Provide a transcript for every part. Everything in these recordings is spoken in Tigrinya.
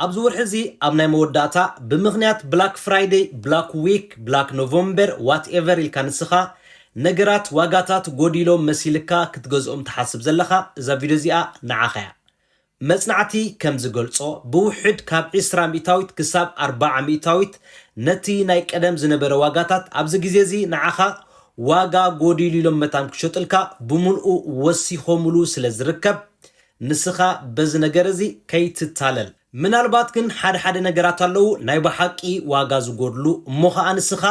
ኣብዚ ወርሒ እዚ ኣብ ናይ መወዳእታ ብምኽንያት ብላክ ፍራይደይ ብላክ ዊክ ብላክ ኖቨምበር ዋት ኤቨር ኢልካ ንስኻ ነገራት ዋጋታት ጎዲሎም መሲልካ ክትገዝኦም ትሓስብ ዘለኻ እዛ ቪድዮ እዚኣ ንዓኻ እያ። መጽናዕቲ ከም ዝገልጾ ብውሕድ ካብ ዕስራ ሚእታዊት ክሳብ ኣርባዓ ሚእታዊት ነቲ ናይ ቀደም ዝነበረ ዋጋታት ኣብዚ ግዜ እዚ ንዓኻ ዋጋ ጎዲሉ ኢሎም መታን ክሸጡልካ ብምልኡ ወሲኾምሉ ስለ ዝርከብ ንስኻ በዚ ነገር እዚ ከይትታለል። ምናልባት ግን ሓደ ሓደ ነገራት ኣለዉ ናይ በሓቂ ዋጋ ዝጎድሉ እሞ ከኣ ንስኻ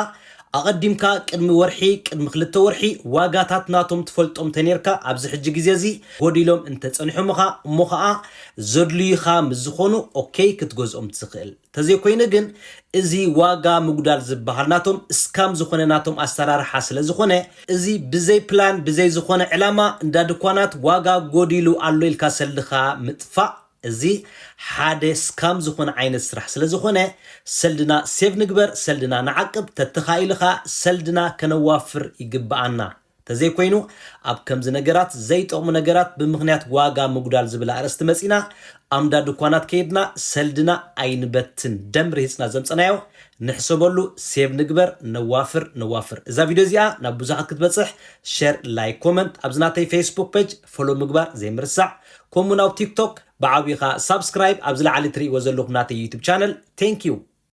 ኣቐዲምካ ቅድሚ ወርሒ ቅድሚ ክልተ ወርሒ ዋጋታት ናቶም ትፈልጦም ተኔርካ ኣብዚ ሕጂ ግዜ እዚ ጎዲሎም እንተጸኒሖምኻ እሞ ከኣ ዘድልዩኻ ምስ ዝኾኑ ኦከይ ክትገዝኦም ትኽእል ተዘይኮይኑ ግን እዚ ዋጋ ምጉዳል ዝብሃል ናቶም እስካም ዝኮነ ናቶም ኣሰራርሓ ስለ ዝኮነ እዚ ብዘይ ፕላን ብዘይ ዝኮነ ዕላማ እንዳ ድኳናት ዋጋ ጎዲሉ ኣሎ ኢልካ ሰልድካ ምጥፋእ እዚ ሓደ እስካም ዝኮነ ዓይነት ስራሕ ስለ ዝኮነ ሰልድና ሴቭ ንግበር ሰልድና ንዓቅብ ተተካኢሉ ከኣ ሰልድና ከነዋፍር ይግብኣና። ተዘይኮይኑ ኣብ ከምዚ ነገራት ዘይጠቕሙ ነገራት ብምኽንያት ዋጋ ምጉዳል ዝብል ኣርእስቲ መጺእና ኣምዳ ድኳናት ከይድና ሰልድና ኣይንበትን ደም ርሂጽና ዘምጸናዮ ንሕሰበሉ ሴቭ ንግበር ነዋፍር ነዋፍር እዛ ቪድዮ እዚኣ ናብ ብዙሓት ክትበጽሕ ሸር ላይክ ኮመንት ኣብዚ ናተይ ፌስቡክ ፔጅ ፎሎ ምግባር ዘይምርሳዕ ከምኡውን ኣብ ቲክቶክ ብዓቢኻ ሳብስክራይብ ኣብ ዝለዓሊ ትርእይዎ ዘለኹም ናተይ ዩቱብ ቻነል ቴንኪዩ